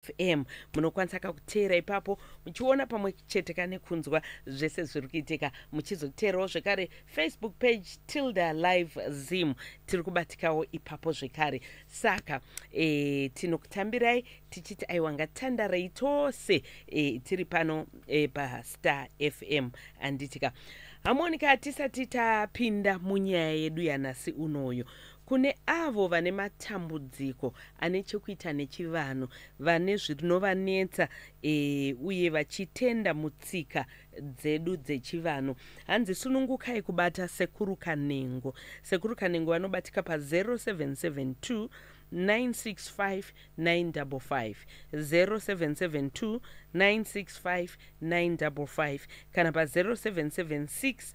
fm munokwanisa kakuteera ipapo muchiona pamwe chete kane kunzwa zvese zviri kuitika muchizoteerawo zvekare facebook page tilda live zim tiri kubatikawo ipapo zvekare saka e, tinokutambirai tichiti aiwa ngatandarei tose e, tiri pano e, pastar fm anditika hamonika tisati tapinda munyaya yedu yanasi unoyo Kune avo vane matambudziko ane chekuita nechivanhu, vane zvinovanetsa e, uye vachitenda mutsika dzedu dzechivanhu. Hanzi sunungukai kubata Sekuru Kanengo. Sekuru Kanengo vanobatika pa 0772 965 kana pa 0776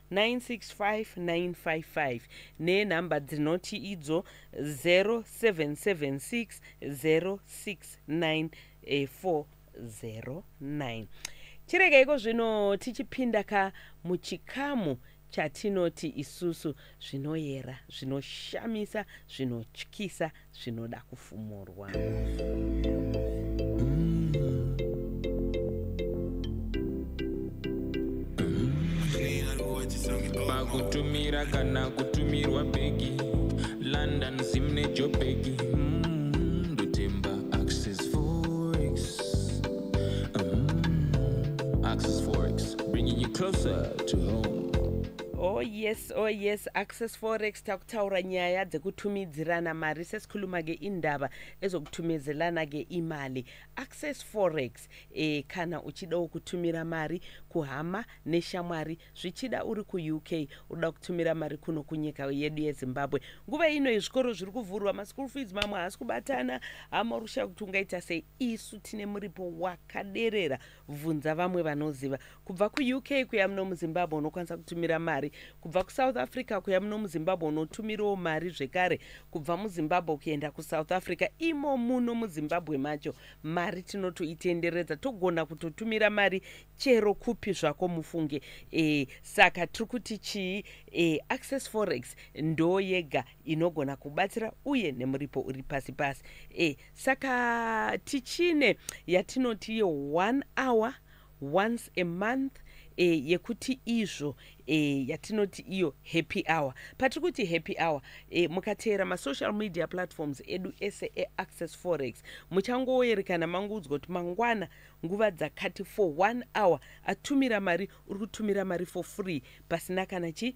965955 nenhamba dzinoti idzo 0776069409 chiregeiko zvino tichipinda ka muchikamu chatinoti isusu zvinoyera zvinoshamisa zvinotyisa zvinoda kufumurwa pakutumira kana kutumirwa bhegi london zim nejobhegi mm, ndotemba access forex mm, access forex bringing you closer to home oh yes Oh yes, Access Forex takutaura nyaya dzekutumidzirana mari sesikhuluma ke indaba ezokutumizelana ke imali. Access Forex eh kana uchida ukutumira mari kuhama neshamwari zvichida uri ku UK uda kutumira mari kuno kunyika yedu yeZimbabwe. Nguva ino izvikoro zviri kuvhurwa ma school fees mamwe haasi kubatana hama rusha kuti ungaita sei isu tine muripo wakaderera bvunza vamwe vanoziva kubva kuuk kuya muno muzimbabwe unokwanisa kutumira mari kubva kusouth africa kuya muno muzimbabwe unotumirawo mari zvekare kubva muzimbabwe kuenda kusouth africa imo muno muzimbabwe macho mari tinotoitenderedza togona kutotumira mari chero kupi zvako mufunge e, saka tiri kuti chii e, access forex ndo yega inogona kubatsira uye nemuripo uri pasi pasi e, saka tichine yatinoti ye one hour once a month e, yekuti izvo e, yatinoti iyo happy hour patiri kuti happy hour e, mukateera masocial media platforms edu ese eaccess forex muchangoerekana manguudzwa kuti mangwana nguva dzakati for one hour atumira mari uri kutumira mari for free pasina kana chii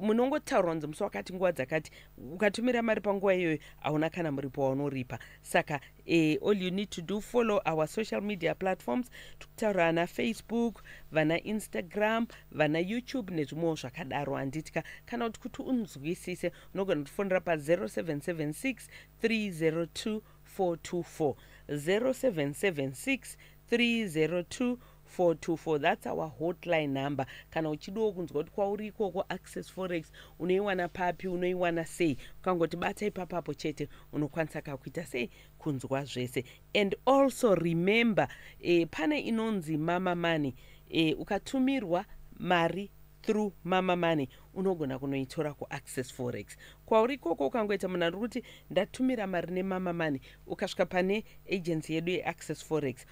munongotaura kunzi musi wakati nguva dzakati ukatumira mari panguva iyoyo hauna kana muripo waunoripa saka eh, all you need to do follow our social media platforms tikutaura ana facebook vana instagram vana youtube nezvimwewo zvakadaro handitya kana kuti kuti unzwisise unogona kutifonera pa 0776 302 424 0776 302 424 that's our hotline number kana uchidiwo kunzwa kuti kwauri ikoko access forex unoiwana papi unoiwana sei ukangoti bata ipapapo chete unokwanisa kakuita sei kunzwa zvese and also remember eh, pane inonzi mama money eh, ukatumirwa mari through mama money unogona kunoitora kuaccess forex kwauri ikoko ukangoita munhu ari kuti ndatumira mari nemama money ukasvika pane agency yedu yeaccess forex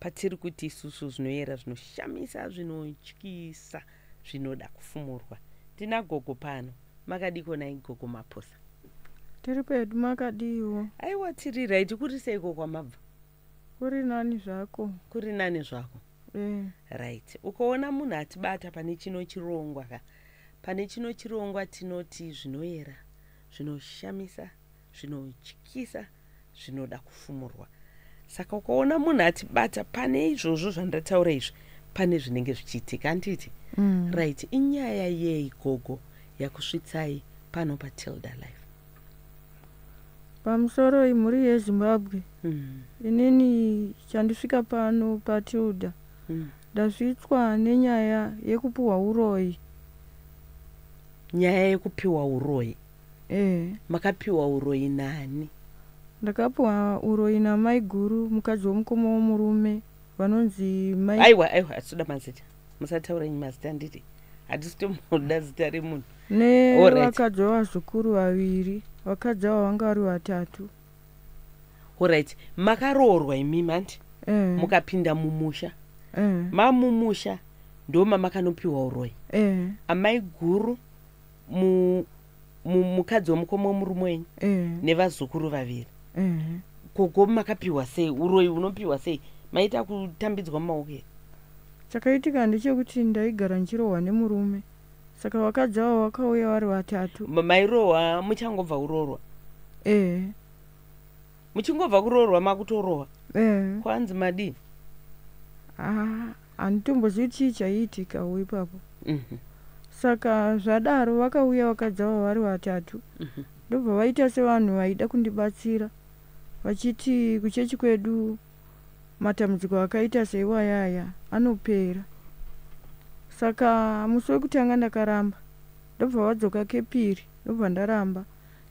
patiri kuti isusu zvinoyera zvinoshamisa zvinotyisa zvinoda kufumurwa tina gogo pano makadiko nai gogo maposa tiri pedu makadiwo aiwa tiri raiti kuri seiko kwamabva kuri nani zvako kuri nani zvako eh. right ukaona munhu atibata pane chino chirongwa ka pane chino chirongwa tinoti zvinoyera zvinoshamisa zvinotyisa zvinoda kufumurwa saka ukaona munhu atibata pane izvozvo zvandataura izvi pane zvinenge zvichiitika anditi mm. right inyaya yei gogo yakusvitsai pano patilda life pamusoro imhuri yezimbabwe mm. inini chandisvika pano patilda mm. ndasvitswa mm. nenyaya yekupiwa uroyi nyaya yekupiwa uroyi ehe makapiwa uroyi nani ndakapiwa uroyi namaiguru mukadzi wemukoma womurume vanonzi mai aiwa aiwa hatitoda mazita musataura nyi mazita nditi hatisi tomoda zita remunhu nevakadzi vevazukuru vaviri vakadzi avo vanga vari vatatu orit makaroorwa imimi hanti eh. mukapinda mumusha eh. mamumusha ndomamakanupiwa uroyi eh. amaiguru mu, mu, mukadzi wemukoma wemurume wenyu eh. nevazukuru vaviri eh. gogo makapiwa sei uroyi unopiwa sei maita kutambidzwa mumaoko here chakaitika ndechekuti ndaigara ndichirohwa nemurume saka vakadzi avo vakauya vari vatatu mairohwa muchangobva urorwa ee eh. muchingobva kuroorwa makutorohwa eh. kwanzi madii ah, handitombozivi chii chaiitikawo ipapo mhm. saka zvadaro vakauya vakadzi avo vari vatatu mhm. ndobva vaita sevanhu vaida kundibatsira vachiti kuchechi kwedu matambudziko akaita seiwayaya anopera saka musi wekutanga ndakaramba ndobva vadzoka kepiri ndobva ndaramba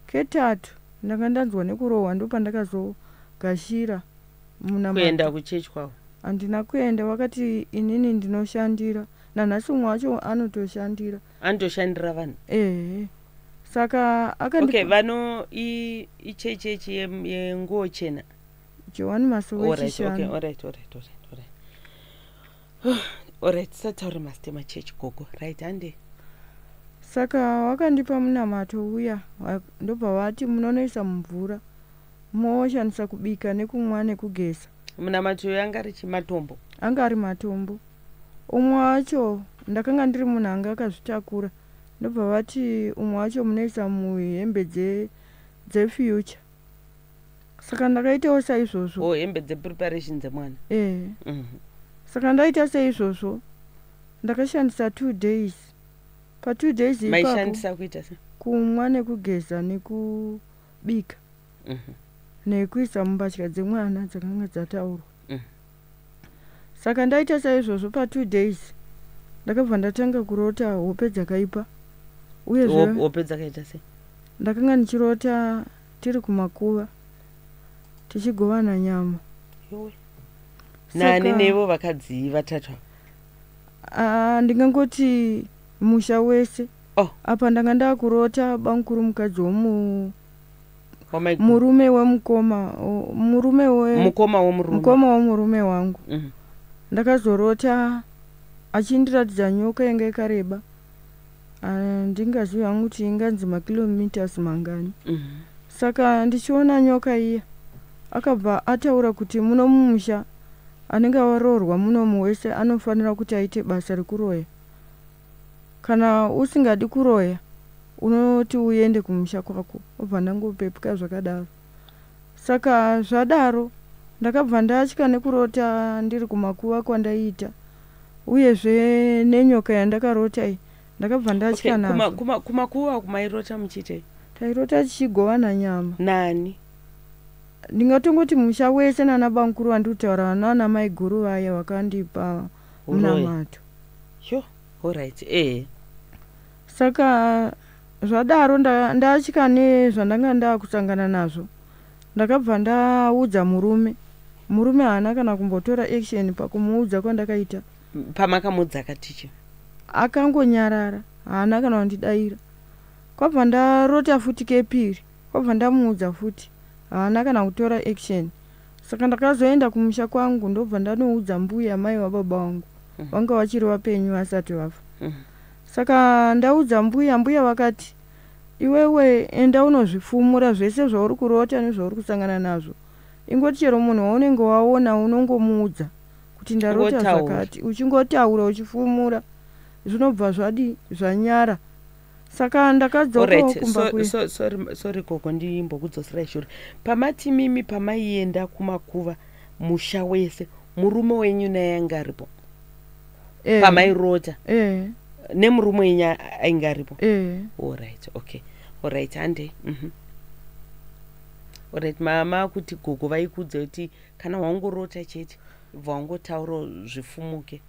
Ketatu ndanga ndanzwa nekurohwa ndopandakazogashira munamato. Kuenda kuchechi kwavo? Handina kuenda vakati inini ndinoshandira nanhasi umwe wacho anotoshandira. Anotoshandira vanhu? Ehe. Saka akandi Okay, vano i ichechi yechi yenguwo chena. Jowani Masowe Chishanu. All right, all right, all right, all right. orit sataure master machurch gogo right hande saka wakandipa munamato uya ndobva vati munonoisa mumvura moshandisa kubika nekumwa nekugeza munamato uyo anga ari chimatombo anga ari matombo umwe wacho ndakanga ndiri munhu anga akazvitakura ndobva vati umwe wacho munoisa muhembe dzefuture saka ndakaitawo saizvozvo oh, hembe dzepreparation dzemwana eh. mm -hmm. saka ndaita seizvozvo ndakashandisa two days patwo days maishandisa kuita se kumwa nekugeza nekubika mm -hmm. nekuisa mumbatya dzemwana dzakanga dzataurwa mm -hmm. saka ndaita saizvozvo patwo days ndakabva ndatanga kurota hope dzakaipa uye hope dzakaita sei ndakanga ndichirota tiri kumakuva tichigovana nyama nani nevo vakadzii vatatu ah, ndingangoti musha wese oh. apa ndanga ndakurota bamukuru mukadzi womu murume wemukoma murume wemukoma womurume mukoma womurume wangu mm. ndakazorota achindiratidza nyoka yanga yakareba ah, ndingazivi hangu kuti inganzi makilometers mangani mm. saka ndichiona nyoka iya akabva ataura kuti muno mumusha anenge aroorwa munomu wese anofanira kuti aite basa rekuroya Kana usingadi kuroya unoti uende kumusha kwako obva ndangopepuka zvakadaro saka zvadaro ndakabva ndatya nekurota ndiri kumakuva kwandaiita uyezve nenyoka yandakarota iyi ndakabva ndatya okay, kuma, kuma, kumakuva kumairota muchiitei tairota tichigovana nyama nani ndingatongoti musha wese nana bankuru vandikutaura vana vana maiguru vaya vakandipa uh, munamato yo orit e eh. saka zvadaro ndatya nezvandanga ndakutangana nazvo ndakabva ndaudza murume murume haana kana kumbotora action pakumuudza kwandakaita pamakamuudza akaticha akangonyarara haana kana wandidaira kwabva ndarota futi kepiri kwabva ndamuudza futi haana kana kutora action Saka ndakazoenda kumusha kwangu ndobva ndanoudza mbuya amai wababa wangu mm. vanga vachiri vapenyu vasati vafa mm. saka ndaudza mbuya mbuya vakati iwewe enda unozvifumura zvese zvauri kurota nezvauri kusangana nazvo ingoti chero munhu waunenge waona unongomuudza kuti ndarota zvakati uchingotaura uchifumura zvinobva zvadi zvanyara saka ndakadzokawo kumba kuye so, so, sorry gogo ndimbokudzoserai shure pamati mimi pamaienda kumakuva musha wese murume wenyu naye anga aripo eh. pamairota eh. nemurume wenyu ainge aripo eh. orit okay orit hande mm -hmm. orit mama kuti gogo vaikudza kuti kana wangorota chete bva wangotaura zvifumuke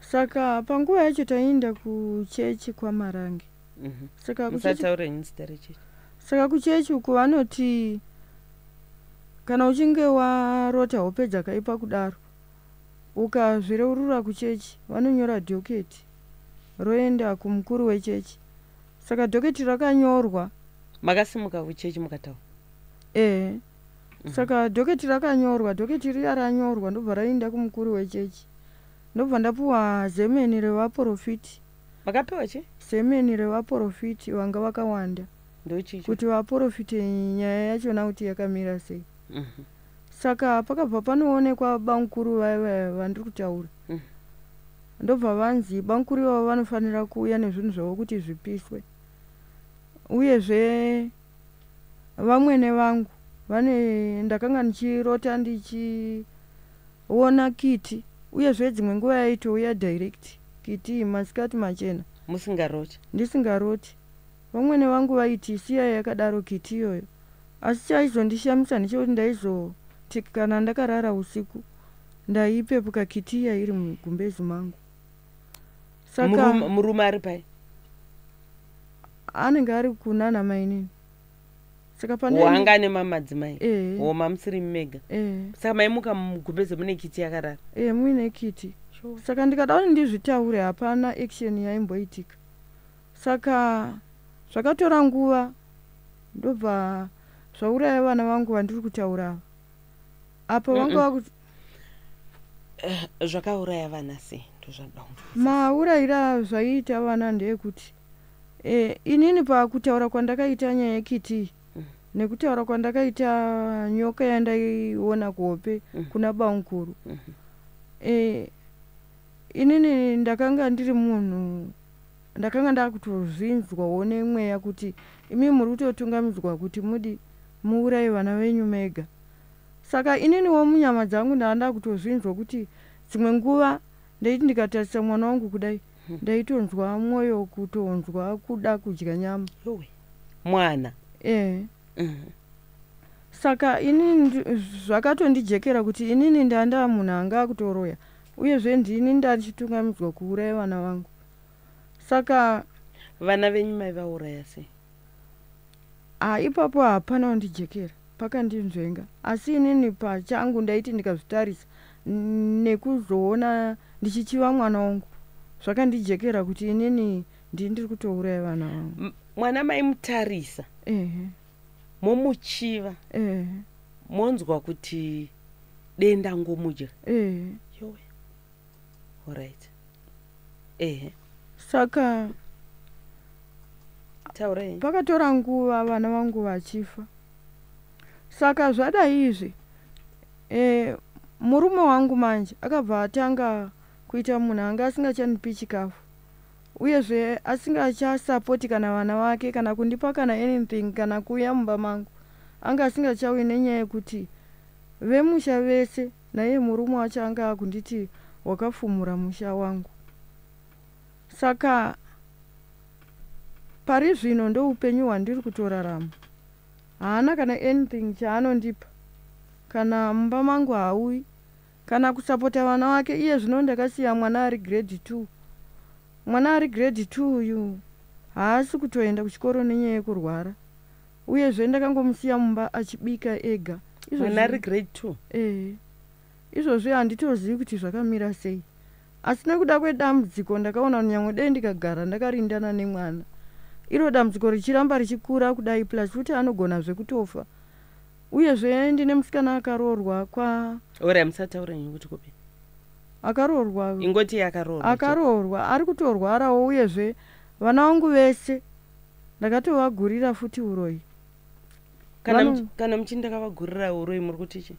Saka panguva yacho taienda kuchechi kwaMarange. Mhm. Saka kuchechi Saka kuchechi uko vanoti kana uchinge warota hope dzakaipa kudaro ukazvireurura kuchechi vanonyora dhoketi roenda kumukuru wechechi saka dhoketi rakanyorwa makasimuka kuchechi mukataura ehe mm -hmm. saka dhoketi rakanyorwa dhoketi riya ranyorwa ndobva rainda kumukuru wechechi Ndobva ndapuwa zemeni revaporofiti. Makapiwa chi? Zemeni revaporofiti vanga vakawanda. Ndochicho. Kuti vaporofite nyaya yachona kuti yakamira sei. Mhm. Saka pakabva panoonekwa bamkuru vaya vaya vandiri kutaura. Mhm. Ndobva vanzi bamkuru ivavo vanofanira kuuya nezvinhu zvavo kuti zvipiswe. Uyezve vamwene vangu vane ndakanga ndichirota ndichiona kiti uyezve dzimwe nguva yaitouya direct kiti masikati machena musingaroti ndisingaroti vamwene vangu vaiti siyai yakadaro kiti iyoyo asi chaizondishamisa ndechekuti ndaizoti kana ndakarara usiku ndaipepuka kiti iya iri mugumbezi mangu saka murume ari pai anenge ari kunana mainini saka panewanga ane mamadzimai eh. o mamusiri mega eh. saka maimuka mugumbeze mune kiti yakarara e muine kiti saka ndikada kuti ndizvitaure hapana action yaimboitika saka zvakatora nguva ndobva zvauraya vana vangu vandiri kutaura ava apo vanga vakuti Eh, zvakauraya vana sei maurayira zvaiita vana ndeyekuti e, inini pakutaura kwandakaita nyaya yekiti mm. nekutaura kwandakaita nyoka yandaiona kuhope mm. kuna bankuru mm -hmm. e, inini ndakanga ndiri munhu ndakanga ndakutozvinzwawo nemweya kuti imi muri kutotungamidzwa kuti mudi muuraye vana venyu mega Saka ininiwo munyama dzangu ndanga ndakutozvinzwa kuti dzimwe nguva ndaiti ndikatarisa mwana wangu kudai hmm. ndaitonzwa mwoyo kutonzwa kuda kudya nyama mwana eh mm-hmm. saka inini zvakatondijekera kuti inini ndanga ndava munhu anga akutoroya uyezve ndini ndachitungamidzwa kuuraya vana vangu saka vana venyu mai vauraya sei Ah ipapo hapana wandijekera pakandinzvenga asi inini pachangu ndaiti ndikazvitarisa nekuzoona ndichichiva mwana wangu zvakandijekera kuti inini ndii ndiri kutouraya vana vangu mwana maimutarisa ehe momuchiva ehe monzwa kuti denda ngomudya ehe yowe Alright. Ehe. Saka Taurai. Pakatora nguva vana vangu vachifa. Saka zvada izvi eh murume wangu manje akabva atanga kuita munhu anga asingachanipi chikafu uyezve asingachasapoti kana vana vake kana kundipa kana anything kana kuuya mumba mangu anga asingachauyi nenyaya yekuti vemusha vese Naiye murume wacho anga akunditi wakafumura musha wangu. Saka pari zvino ndoupenyu hwandiri kutorarama. Haana kana anything chaanondipa. Kana mumba mangu haauyi. Kana kusapota vana vake iye zvino ndakasiya mwana ari grade two. Mwana ari grade two uyu haasi kutoenda kuchikoro nenyaya yekurwara. uyezve ndakangomusiya mumba achibika ega mwana ari grade two ee izvozvi handitozivi kuti zvakamira sei asi nekuda kwedambudziko ndakaona nyangwe dei ndikagara ndakarindana nemwana iro dambudziko richiramba richikura kudai plus futi anogona zvekutofa uyezve ndine musikana akaroorwa kwa ora musataura nyaya kuti kupi akaroorwa ingoti akaroorwa akaroorwa ari kutorwarawo uyezve vana vangu vese ndakatovagurira futi uroyi kana, Vano... kana muchini ndakavagurira uroyi muri kuti chi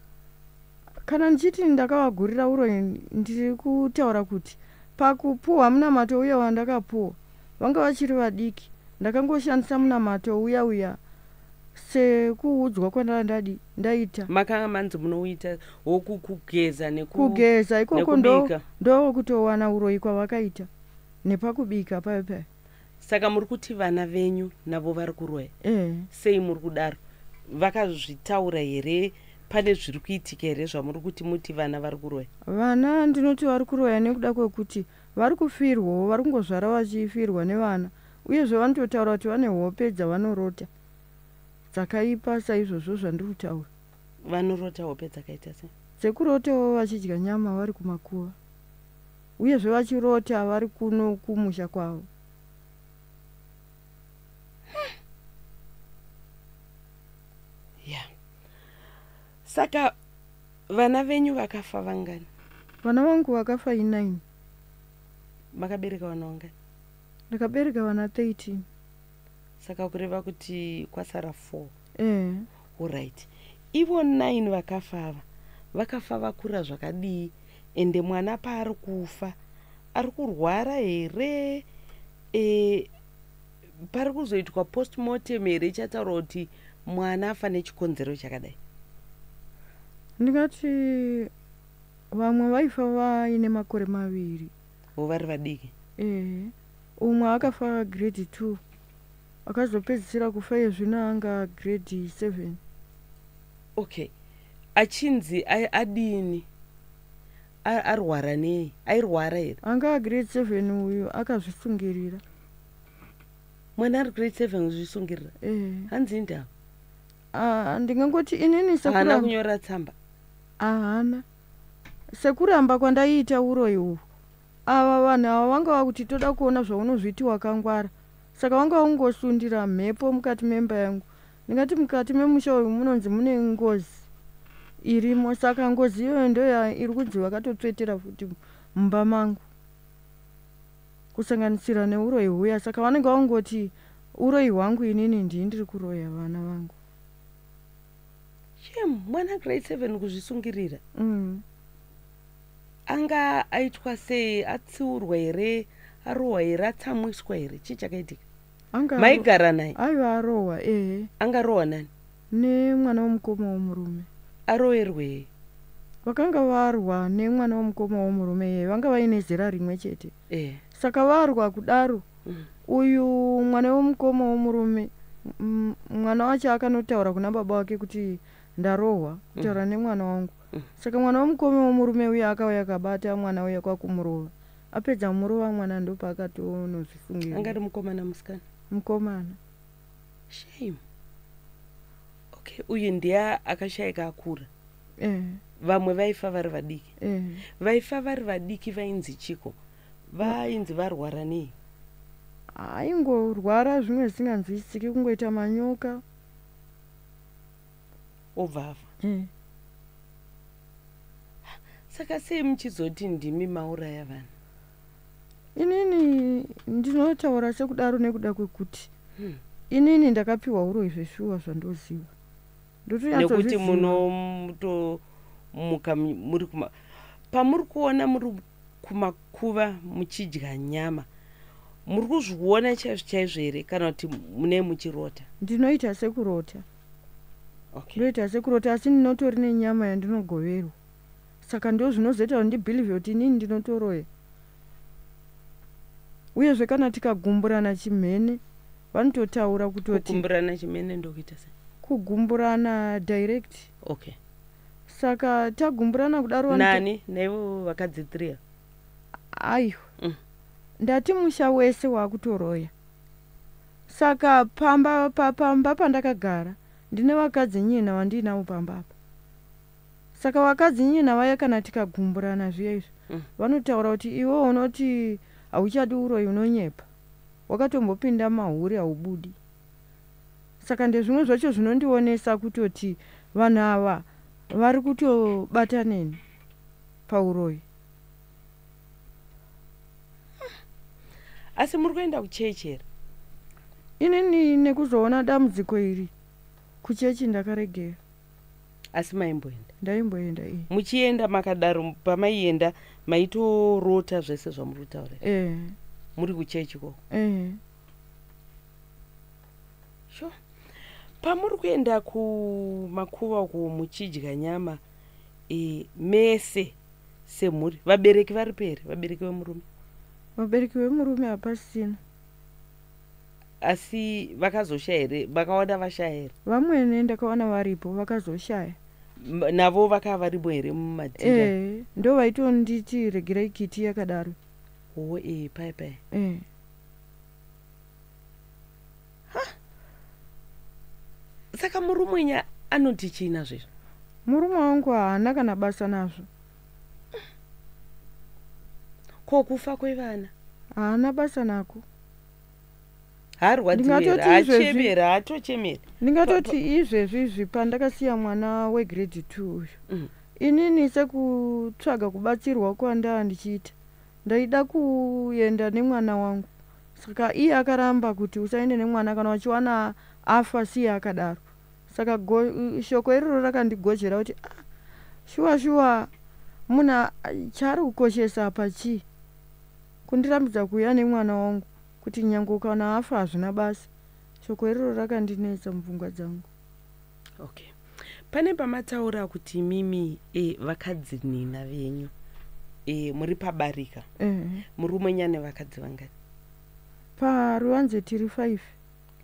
kana ndichiti ndakavagurira uroyi ndiri kutaura kuti pakupuhwa munamato uya wandakapuhwa vanga vachiri vadiki ndakangoshandisa munamato uya uya sekuudzwa kwandanga ndadi ndaita makanga manzi munouita wokukugeza nekugeza ikoko ndokutowana uroyi kwavakaita nepakubika payo payo saka muri kuti vana venyu navo vari kuroya eh. sei muri kudaro vakazvitaura here pane zviri kuitika here zvamuri kuti muti vana vari kuroya vana ndinoti vari kuroya nekuda kwekuti vari kufirwawo vari kungozvara vachifirwa nevana uyezve vanototaura kuti vane hope dzavanorota dzakaipa saizvozvo zvandiri kutaura vanorota hope dzakaita se dzekurotawo vachidya nyama vari kumakuva Uyezve vachiroti havari kuno kumusha kwavo. Saka vana venyu vakafa vangani? Vana vangu vakafa i9. Makabereka vana vangani? Ndakabereka vana 13. saka kureva kuti kwasara four eh. orit ivo nine vakafa ava vakafa vakura zvakadii ende mwana paari kufa ari kurwara here e, pari kuzoitwa postmortem here ichataura kuti mwana afa nechikonzero chakadai ndingati vamwe vaifa vaine makore maviri vo vari vadiki ehe Umwe akafa grade 2 akazopedzisira kufa iye zvino anga grade 7. Okay. Achinzi adini? Arwara nei? Airwara here? Anga grade 7 uyu akazvisungirira. Mwana ari grade 7 kuzvisungirira? Eh. Hanzi ndava. Ah, ndingangoti inini sekuru. Hana kunyora tsamba. Ahana. Sekuramba kwandaiita uroyi uhu. Ava vanhu ava vanga vakuti toda kuona zvaunozviti wakangwara saka wanga ungosundira mhepo mukati memba yangu ndingati mukati memusha uyu munonzi mune ngozi irimo saka ngozi iyoyo ndoya iri kunzi vakatotsvetera futi mumba mangu kusanganisira neuroyi huya saka vanenge vakungoti uroyi hwangu inini ndii ndiri kuroya vana vangu shem mwana grade seven kuzvisungirira mm. anga aitwa sei atsiurwa here arohwa here atsamwiswa here chii chakaitika maigara naye aiva arohwa ehe anga arohwa nani nemwana womukoma womurume aroerwei vakanga varwa nemwana womukoma womurume yeye vanga vaine zera rimwe chete eh. saka varwa kudaro mm. uyu mwana womukoma womurume mwana wacho akanotaura kuna baba wake kuti ndarohwa kutaura mm. nemwana wangu Saka mwana wemukome wemurume uya akauya akabata mwana uya kwakumurova. Apedza kumurova mwana ndopaakatonozvifungira. Anga ari mukomana musikana? Mukomana. Shame. Okay, uyu ndiye akashaika akura. Eh. Vamwe vaifa vari vadiki. Eh. Vaifa vari vadiki vainzi chiko. Vainzi varwara nei? Aingorwara zvimwe zvisinganzwisisiki kungoita manyoka. obva afa mm. saka sei muchizoti ndimi mauraya vanhu inini ndinotaura sekudaro nekuda kwekuti hmm. inini ndakapiwa uroyi zveshuwa zvandoziva ndotonyatsonekuti munotomuka muri kuma pamuri kuona muri kumakuva muchidya nyama muri kuzviona chaizvo chaizvo here kana kuti mune muchirota ndinoita sekurota okay. ndoita sekurota asi ndinotori nenyama yandinogoverwa saka ndo zvinozoita kuti ndibhilivhe kuti inini ndinotoroya uyezve kana tikagumburana chimhene vanototaura kutotikuburana chimene ndokuita se kugumburana direct okay saka tagumburana kudaro nani naivo vakadzi three aiwa mm. ndati musha wese wakutoroya Saka pamba pa, pamba pandakagara ndine vakadzi nyina wandiinavo pamba apa. Saka vakadzi nyina vaya kana tikagumburana zviya izvo mm. vanotaura kuti iwe unoti hauchadi uroyi unonyepa. Wakatombopinda mahuri haubudi. Saka ndezvimwe zvacho zvinondionesa kutoti vanhu ava vari kutobataneni pauroyi. asi muri kuenda kuchechi here inini nekuzoona dambudziko iri kuchechi ndakaregera asi maimboenda ndaimboenda e muchienda makadaro pamaienda maitorota zvese zvamuri kutaura e eh. muri kuchechi ko e eh. sure pamuri kuenda kumakuva uko muchidya nyama e, mese semhuri vabereki varipo here vabereki vemurume vabereki vemurume hapasina asi vakazoshaya here vakawana vashaya here vamwene ndakawana varipo vakazoshaya navo vakava varipo here mumadhira e, ndo vaitonditi regerai kiti yakadaro oo e, pai pai e. saka murumwenya anoti chii nazvo izvo murume wangu haana kana basa nazvo ko kufa kwevana haana basa nako harwadziweachemere haatochemere ndingatoti izvezvi izvi pandakasiya mwana wegrade two uyu mm. inini sekutsvaga kubatsirwa kwandava ndichiita ndaida kuenda nemwana wangu Saka iye akaramba kuti usaende nemwana kana wachiwana afa siya akadaro. Saka go, shoko iroro rakandigozhera kuti ah, shuwa shuwa munhu chaari kukoshesa apa chii? Kundirambidza kuuya nemwana wangu kuti nyange ukana afa hazvina basa. Shoko iroro rakandinetsa mupfungwa dzangu. okay pane pamataura kuti imimi e, vakadzinina venyu e, muri pabarika mm. murume nyane vakadzi vangani paruvanze tiri five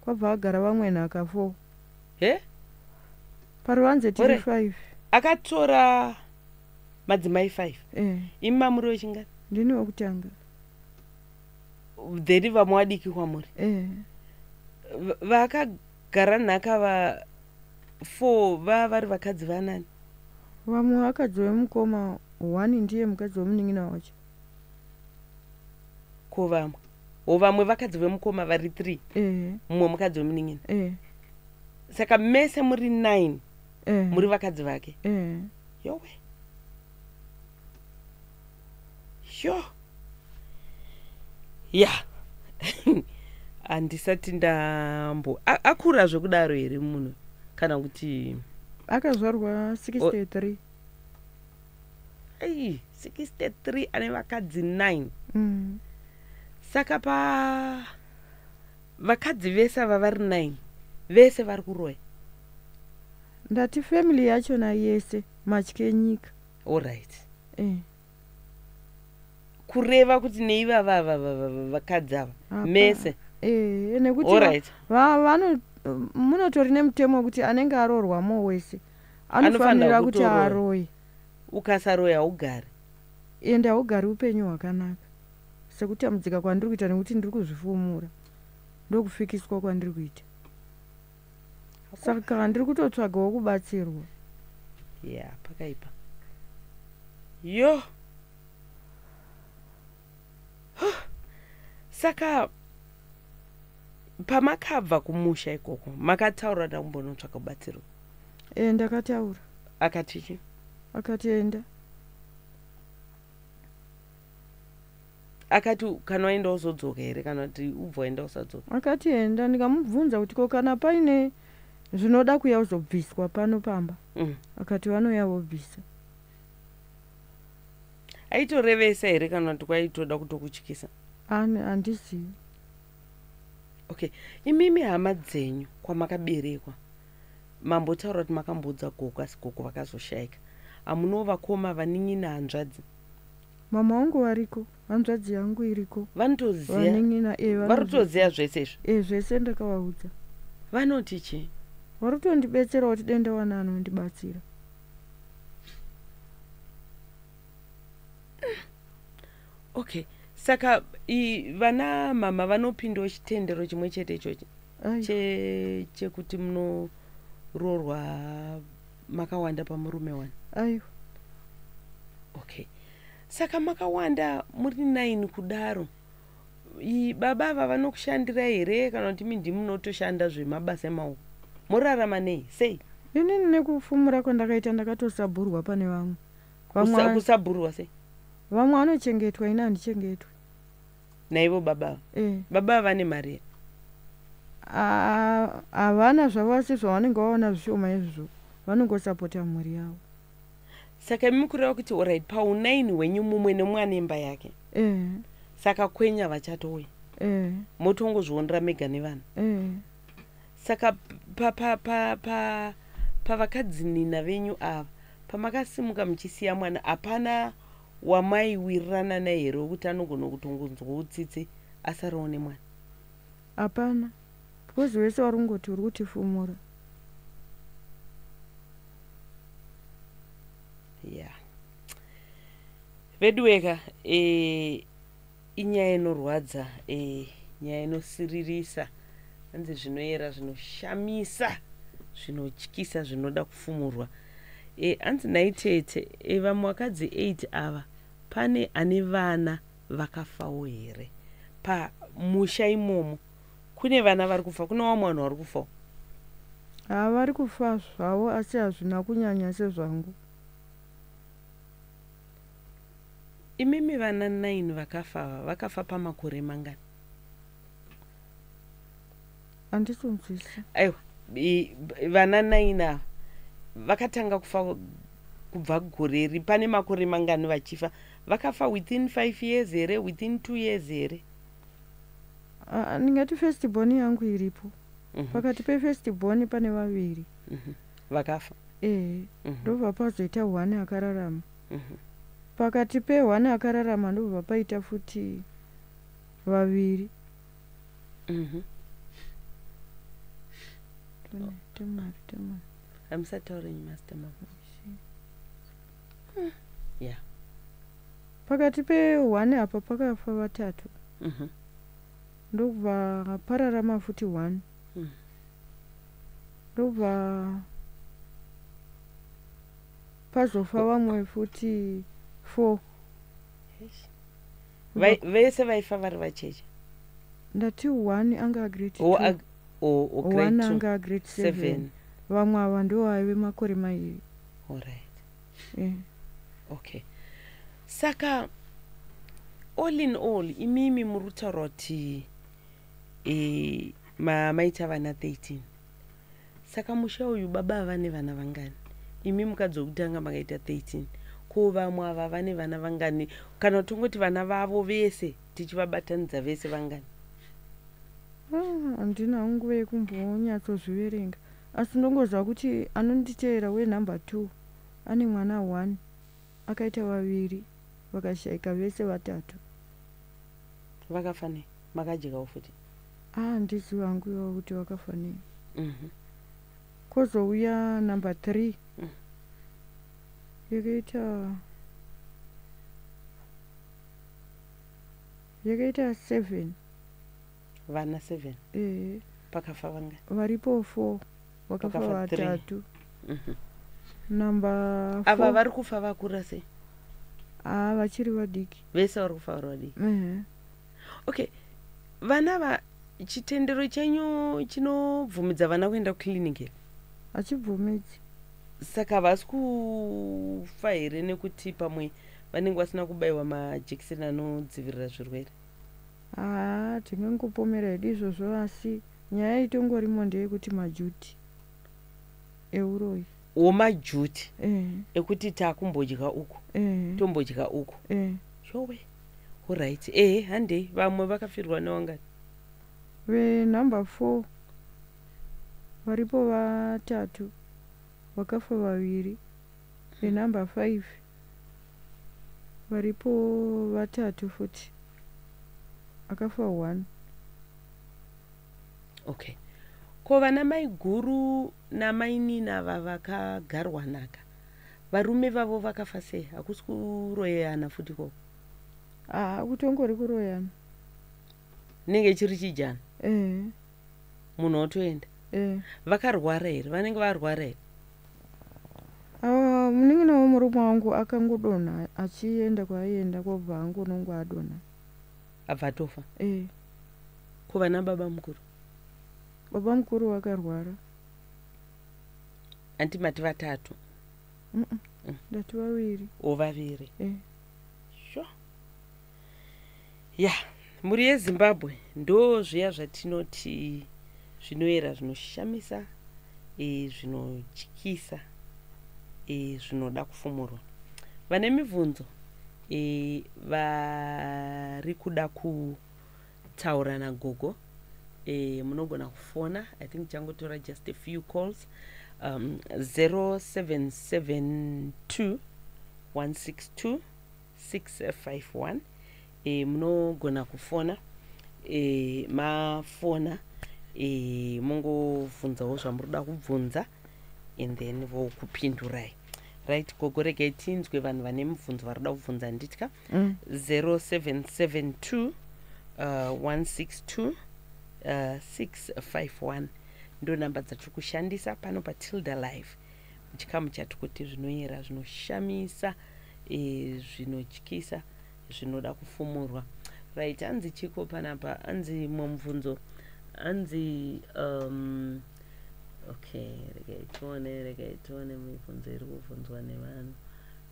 kwabva agara vamwe nhaka four he paruvanze tiri five akatora madzimai five mm. imi mamuri wechingani ndini wekutanga then vamwe wadiki kwamuri mm. vaka gara nhaka va four va vari vakadzi vanani vamwe vakadzi vemukoma one ndiye mukadzi wemunin'ina wacho ko vamwe o vamwe vakadzi vemukoma vari three ehe mumwe mukadzi wemunin'ina ehe saka mese muri nine ehe muri vakadzi vake ehe yowe sho ya handisati ndambo akura zvekudaro here munhu kana kuti akazvarwa 63 ei 63 ane vakadzi 9 mm. saka pa vakadzi vese ava vari 9 vese vari kuroya ndati family yachona yese matye nyika allright eh. kureva kuti neivava vakadzi ava mese eh, nekuti allright vano munotori nemutemo wekuti anenge aroorwa mo wese anofanira kuti aroye ukasaroya haugari ende haugari upenyu hwakanaka sekutambudzika kwandiri kuita nekuti ndiri kuzvifumura ndokufikiswa kwandiri kuita saka ndiri kutotsvagawo kubatsirwa ya yeah, pakaipa yo saka pamakabva kumusha ikoko makataura ndakumbonotsvaka kubatsirwa e ndakataura akatiki akatenda akati kana waenda wozodzoka here kana kuti ubva waenda usadzoka akati enda ndikamubvunza kuti ko kana paine zvinoda kuya uzobviswa pano pamba mm. akati vanoya vobvisa aitorevesa here kana kuti kwaitoda kutokutyisa ani handizivi okay imimi hama dzenyu kwamakaberekwa mambotaura kuti makamboudza gogo asi gogo vakazoshayika hamunovo vakoma vanin'ina hanzvadzi Mama wangu variko, hanzvadzi yangu iriko. Vanotoziva. Vanen'ina eh vanoziva. Varitoziva zvese izvi. Eh zvese ndakavaudza. Vanoti chii? Varikutondibetsera kuti dai ndawana anondibatsira. Okay. Saka i, vana mama vanopindawo chitendero chimwe chete ichochi chekuti munoroorwa makawanda pamurume wani aiwa okay saka makawanda muri nine kudaro baba ava vanokushandira here kana kuti mindi munotoshanda zvemabasa emaoko morarama nei sei inini nekufumura kwandakaita ndakatosabhurwa pane vamwe kusabhurwa sei vamwe vanochengetwa ini handichengetwe naivo baba ava eh. baba ava vane mari here havana zvavasi zvavanenge vaona zvishoma izvozvo vanongosapota mhuri yavo saka imi kureva kuti orit paunaini hwenyu mumwe nemwana imba yake eh. saka kwenya vachatouya eh. motongozvionera mega nevanhu eh. saka pavakadzinina venyu ava pamakasimuka muchisiya mwana hapana wamaiwirirana naye here wekuti anogona kutongonzwa utsitsi asarawo nemwana hapana because wese wari kungoti uri kutifumura ya yeah. veduweka e, eh, inyaya inorwadza eh, nyaya inosiririsa hanzi zvinoyera zvinoshamisa zvinotyisa zvinoda kufumurwa eh, hanzi e, naitete e, eh, vamwe vakadzi 8 ava pane ane vana vakafawo here pamusha imomo kune vana vari kufa kune vamwe vanhu vari kufawo havari kufa zvavo asi hazvina kunyanya sezvangu Imimi vana nine vakafa ava vakafa pamakore mangani? Handitonzwisisa. Aiwa, vana nine ava vakatanga kufa kubva gore ri pane makore mangani vachifa vakafa within five years here within two years here? Ndingati first born yangu iripo. Mhm. Pakati pefirst born pane vaviri. Mhm. vakafa ehe mm -hmm. ndobva pazoita one akararama mm -hmm. pakati peone akararama ndobva paita futi vaviri mm -hmm. oh. temari temari hamusataure nyimasta mama hmm. ya pakati peone apa pakafa vatatu mm -hmm. ndokubva pararama futi one Hmm. Ndobva pazofa vamwe futi four vese vaifa vari vacheche ndati one anga agrade one anga agrade seven vamwe ava ndo aive makore mairi allright yeah. okay saka all in all imimi muri kutaura kuti e, ma, maita vana 13 saka musha uyu baba ava nevana vangani imi mukadzi wekutanga makaita 13 ko vamwe ava vane vana vangani kana tongoti vana vavo vese tichivabatanidza vese vangani ah, handina ah, nguva yekumbonyatsozviverenga asi ndongoziva kuti anonditeera wenumber two ane mwana one akaita vaviri vakashaika vese vatatu vakafanei makadyikawo futi ah ndizivi hangu iwawo kuti wakafa nei mhm. kozouya number three mm. yakaita yakaita seven vana seven ehe pakafa vanga varipo four vakafa vatatu mhm. number ava vari kufa vakura sei haa ah, vachiri vadiki vese vari kufa vari vadiki ehe okay vana va chitendero chenyu chinobvumidza vana kuenda kuclinic here hachibvumidzi saka havasi kufa here nekuti pamwe vanenge vasina kubayiwa majekiseni anodzivirira zvirwere haa tingangopomera hedu izvozvo asi nyaya itongorimo ndeyekuti majuti euroyi womajuti mm. ekuti takumbodya uku mm. tombodya uku mm. yowe orit ehe handei vamwe vakafirwa newangani venumber four varipo vatatu vakafa vaviri venumber five varipo vatatu futi akafa one okay ko vana maiguru namainina vavakagarwanaka varume vavo vakafa sei hakusi kuroyana futi ko haa ah, kutongori kuroyana inenge chiri chijana eh. munhu otoenda eh. vakarwara here vanenge varwara here ah, munin'ina wemurume wangu akangodonha achienda kwaaienda kwobva angonongo adonha abva atofa eh. ko vana baba mukuru baba mukuru vakarwara andi mati vatatu mm -mm. Mm. ndati vaviri o vaviri eh. sho ya mhuri yezimbabwe ndo zviya zvatinoti zvinoyera zvinoshamisa e, zvinotyisa e, zvinoda kufumurwa vane mibvunzo e, vari kuda kutaura nagogo e, munogona kufona i think changotora just a few calls um, 0772 162 651 e, munogona kufona e, mafona e, mongobvunzawo zvamuri kuda kubvunza and then vokupindurai right gogo regai tinzwe vanhu vane mubvunzo vari kuda kubvunza handitya 0772 162 651 ndo namba dzatiri kushandisa pano patilda live chikamu chatikuti zvinoyera zvinoshamisa eh, zvinotyisa zvinoda kufumurwa right hanzi chiko panapa hanzi mumvunzo hanzi um, okay regai tione regai tione mibvunzo iri kuvhunzwa nevanhu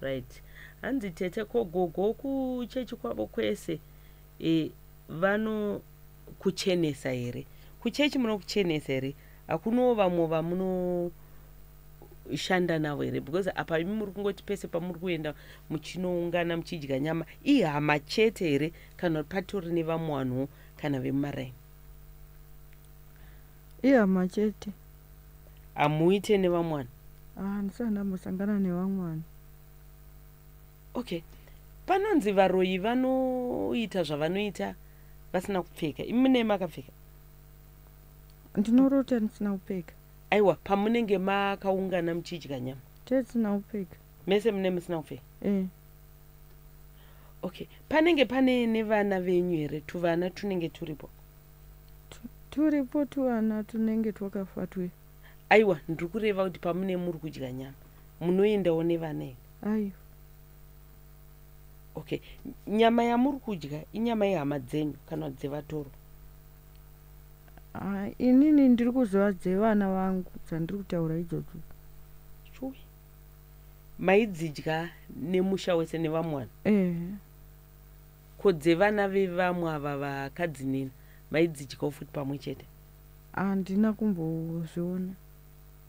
right hanzi tete ko gogo kuchechi kwavo kwese e, vanokuchenesa here kuchechi munokuchenesa here hakunawo vamwe vamunoshanda navo here because apa imi muri kungoti pese pamuri kuenda muchinoungana muchidya nyama ihama chete here kana kuti patori nevamwe vanhuwo kana vemumaraini ihama chete hamuite nevamwe vanhu handisani ah, ambosangana nevamwe vanhu okay panonzi varoyi vanoita zvavanoita vasina kupfeka imi nei makapfeka ndinorota ndisina kupfeka aiwa pamunenge makaungana muchidya nyama tesina kupfeka mese mune musina kupfeka eh. okay panenge pane nevana venyu here tuvana tunenge turipo turipo tuvana tunenge twakafa twe aiwa ndiri kureva kuti pamune muri kudya nyama munoendawo nevana here aiwa okay nyama yamuri kudya inyama yehama dzenyu kana dzevatoro ah, inini ndiri kuziva dzevana vangu dzandiri kutaura idzodzo chui maidzidya nemusha wese nevamwe vanhu eh. ko dzevana vevamwe ava vakadzi nini maidzidyawo futi pamwe chete handina kumbozviona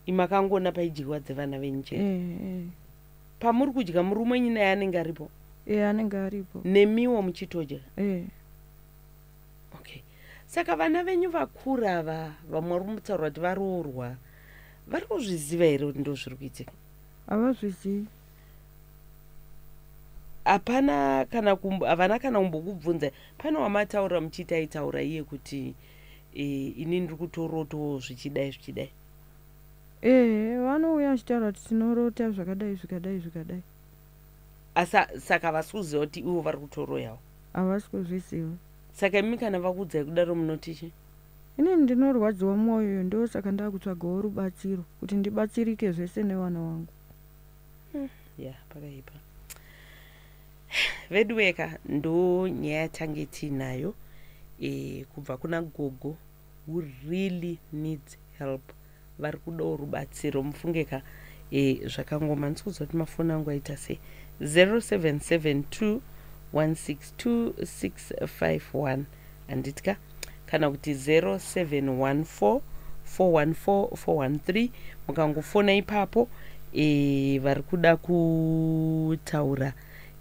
imakangoona paidyiwa dzevana venyu chete eh, eh. pamuri kudya murume wenyu naye anenge aripo e anenge aripo nemiwo muchitodya e. okay saka vana venyu vakura ava vamwe vari kumutaura kuti varoorwa vari kuzviziva here kuti ndo zviri kuitika havazvizivi hapana kana havana kana kumbokubvunza pane wamataura muchiita aitaura iye kuti e, ini ndiri kutorotawo zvichidai zvichidai ee vanouya vachitaura kuti tinorota zvakadai zvikadai zvikadai asa saka havasi kuziva kuti ivo vari kutoroyawo havasi kuzviziva saka imi kana vakuudzai kudaro munoti chi ini ndinorwadziwa mwoyo yo ndo saka ndakutsvagawo rubatsiro kuti ndibatsirike zvese nevana wangu hmm, ya pakaipa veduweka ndo nyaya yatange tiinayo e, kubva kuna gogo who really needs help vari kudawo rubatsiro mufunge ka e, zvakangoma ndisi kuziva kuti mafoni angu aita sei 0772 162651 handiti ka kana kuti 0714 414413 mukangofona ipapo e, vari kuda kutaura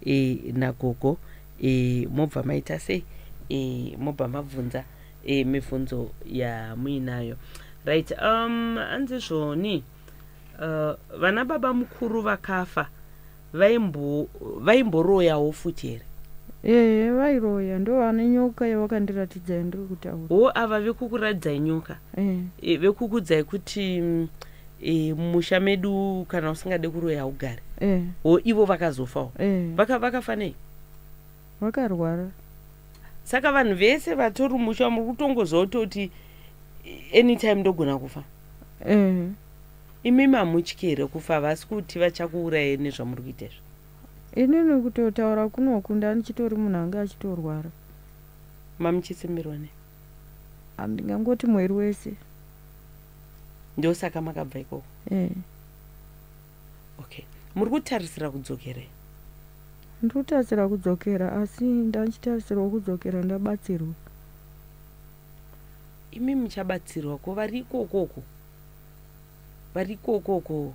e, nagogo e, mobva maita sei e, mobva mabvunza e, mibvunzo yamuinayo right um, anzi zvoni uh, vana baba mukuru vakafa vaimboroyawo futi here ehe vairoya ndo vane nyoka yavakandiratidza yandiri kutaura wo ava vekukuratidzai nyoka eh. e, vekukudzai kuti mm, e, musha medu kana usingade kuroya haugare eh. wo ivo vakazofawo vakafanei Wakarwara. Saka vanhu vese vatori musha muri kutongozototi anytime ndogona kufa. Eh. Imi mamutye here kufa vasi kuti vachakuuraye nezvamuri kuita izvo? Inini kutotaura kunoku ndani chitori munhu anga achitorwara. Mamuchisimbirwa ne? Andingangoti mweri wese. Ndosaka makabva ikoko. Eh. okay muri kutarisira kudzokera ndiri kutarisira kudzokera asi ndachitarisirwa kudzokera ndabatsirwa imi muchabatsirwa ko vari ikokoko vari ikokoko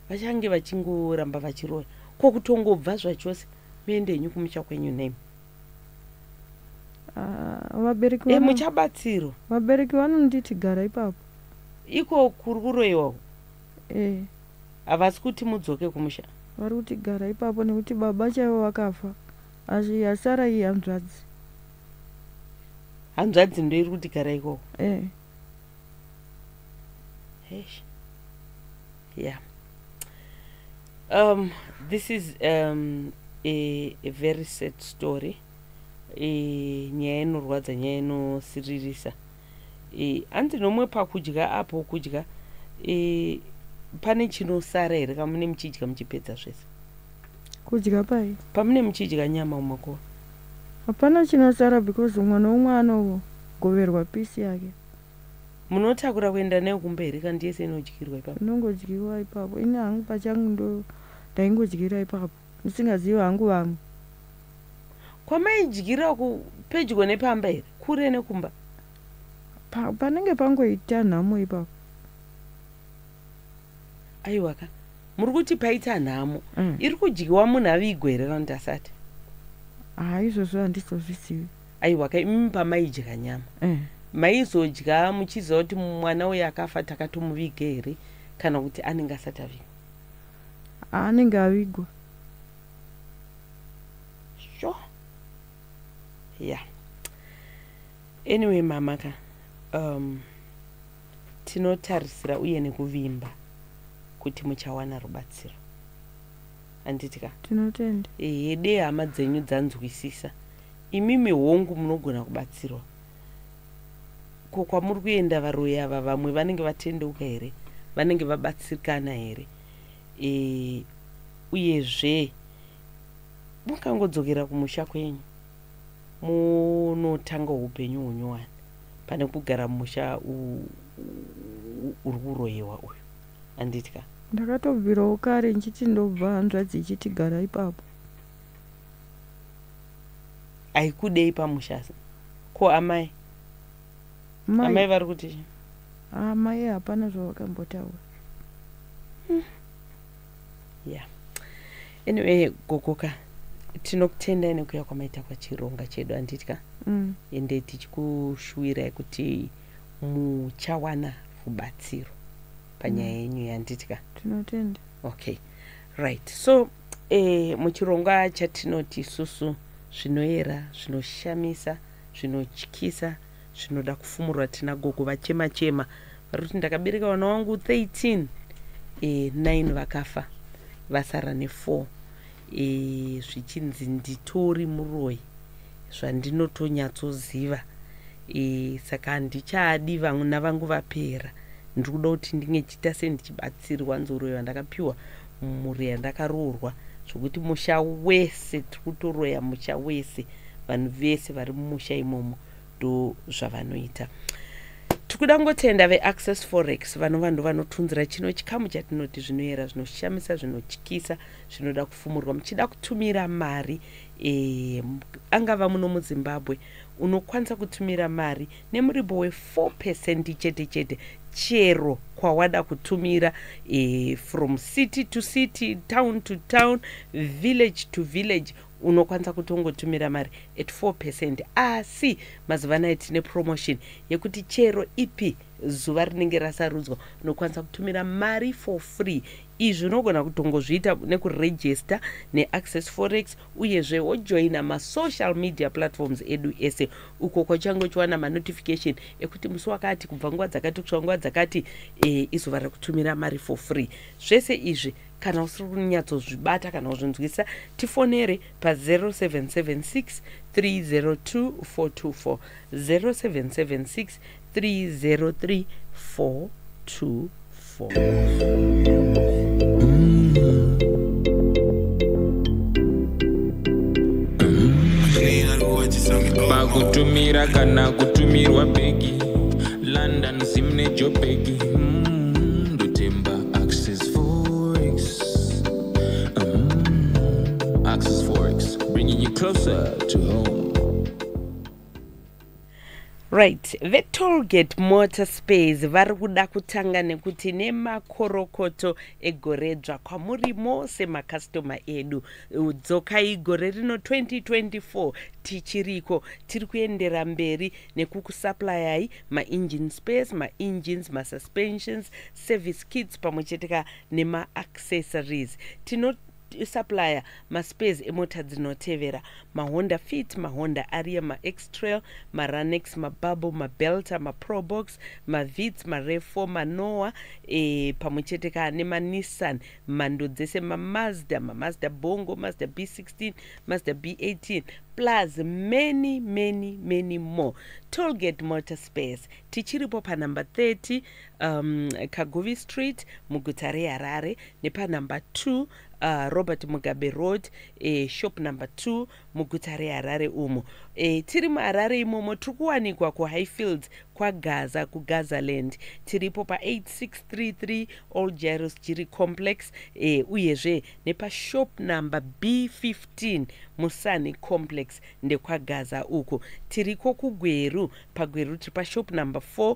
vachange vachingoramba vachiroya ko kutongobva zvachose muende henyu kumusha kwenyu name ah, vabereki eh, muchabatsirwa vabereki vanonditi gara ipapo iko kuri kuroiwawo eh. havasi kuti mudzoke kumusha vari kuti gara ipapo nekuti baba chaivo vakafa asi yasara iyi hanzvadzi hanzvadzi ndo iri kuti gara ikoko eh. yeah um, this is um, a, a very sad story e, nyaya inorwadza nyaya inosiririsa e, hanzi nomwe pakudya apo kudya e, pane chinosara here kamune muchidya muchipedza zvese kudya pai pamune muchidya nyama umakuva hapana chinosara because umwe noumwe anogoverwa pisi yake munotakura kuenda nayo kumba here kandi yese inodyirwa ipapo inongodyiwa ipapo ini hangu pachangu ndo ndaingodyira ipapo Ndisingazive hangu vamwe. Kwamaidyira uku pedyo nepamba here? Kure nekumba? Pa, panenge pangoita nhamo ipapo. Aiwa ka. Muri kuti paita nhamo. Mm. Iri kudyiwa munhu avigwe here kana kuti asati? Ah, izvozvo handizozvizivi. Aiwa ka, imi pamaidya nyama. Eh. Maizodya muchiziva kuti mwana uyu akafa takatomuvige here kana kuti anenge asati avigwa? anenge avigwa sho ya anyway mama ka um, tinotarisira uye nekuvimba kuti muchawana rubatsiro handiti ka tinotenda hede hama dzenyu dzanzwisisa imimi hongu munogona kubatsirwa ko kwamuri kuenda varoyi ava vamwe vanenge vatendeuka here vanenge vabatsirikana here e, uyezve mukangodzokera kumusha kwenyu munotanga upenyu hunyowani pane kugara musha uri kuroyewa uyu anditya ndakatobvirawo kare ndichiti ndobva hanzvadzi ichiti gara ipapo aikudei pamusha ko amai amai vari kuti amai ah, hapana zvavakambotaura hmm. ya anyway gogoka tinokutendai nekuya kwamaita kwachironga chedu anditya mm. ende mm. tichikushuwirai kuti muchawana rubatsiro panyaya mm. yenyu yanditya tinotenda okay right so e, muchirongwa chatinoti isusu zvinoera zvinoshamisa zvinotyisa zvinoda kufumurwa tina gogo vachema chema vari kuti ndakabereka vana wangu 13 e, 9 vakafa vasara ne4 e, zvichinzi nditori muroyi zvandinotonyatsoziva e, saka handichaadi vana vangu vapera ndiri kuda kuti ndinge chiita sendichibata ndakabatsirwa nzoroyo yandakapiwa mhuri yandakaroorwa zvokuti musha wese tiri kutoroya musha wese vanhu vese vari mumusha imomo ndo zvavanoita tiri kuda kungotenda veaccess forex vanova ndo vanotunzira chino chikamu chatinoti zvinoyera zvinoshamisa zvinotyisa zvinoda kufumurwa muchida kutumira mari e, angava muno muzimbabwe unokwanisa kutumira mari nemuripo we 4 percent chete chete chero kwawada kutumira e, from city to city town to town village to village unokwanisa kutongotumira mari at 4 percent asi mazuva anaya tine promotion yekuti chero ipi zuva rinenge rasarudzwa unokwanisa kutumira mari for free izvi unogona kutongozviita nekurejista neaccess forex uyezve wojoina masocial media platforms edu ese uko kwachange uchiwana manotification ekuti musi wakati kubva nguva dzakati kusvika nguva dzakati e, izuva rekutumira mari for free zvese izvi kana usiri kunyatsozvibata kana kuzvinzwisisa tifonere pa0776 302 424 0776 pakutumira kana kutumirwa bhegi london zim nejobhegi closer to home. right vetolgate motor space vari kuda kutanga nekuti nemakorokoto egoredzva kwamuri mose makastoma edu dzokai gore rino 2024 tichiriko tiri kuendera mberi nekukusaplayai maengine space maengines masuspensions service kits pamwe cheteka nemaaccessories tino supplier maspares emota dzinotevera mahonda fit mahonda aria maextrail maranex mabubble mabelta maprobox mavits marefo manoa e, pamwe chete ka nemanissan mhando dzese mamazda mamazda bongo mazda b16 mazda b18 plus many many many more tolgate motor space tichiripo panumber 30 um, kaguvi street muguta reharare nepanumber 2 uh, robert mugabe road e, shop number 2 muguta reharare umo e, tiri muharare imomo tiri kuwanikwa kuhighfields kwagaza kugazaland tiripo pa8633 all jaros jiri complex e, uyezve nepashop number b15 musani complex ndekwagaza uko tiriko kugweru pagweru tiri pashop number 4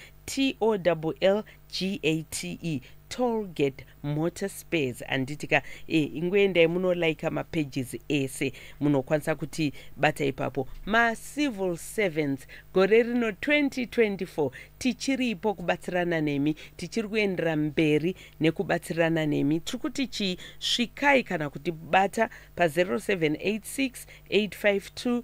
tollgate tollgate motor spares handiti ka e, ingoendai munolaika mapages ese munokwanisa kuti bata ipapo macivil servants gore rino 2024 tichiripo kubatsirana nemi tichiri kuendera mberi nekubatsirana nemi tiri kuti chii svikai kana kuti bata pa 0786 852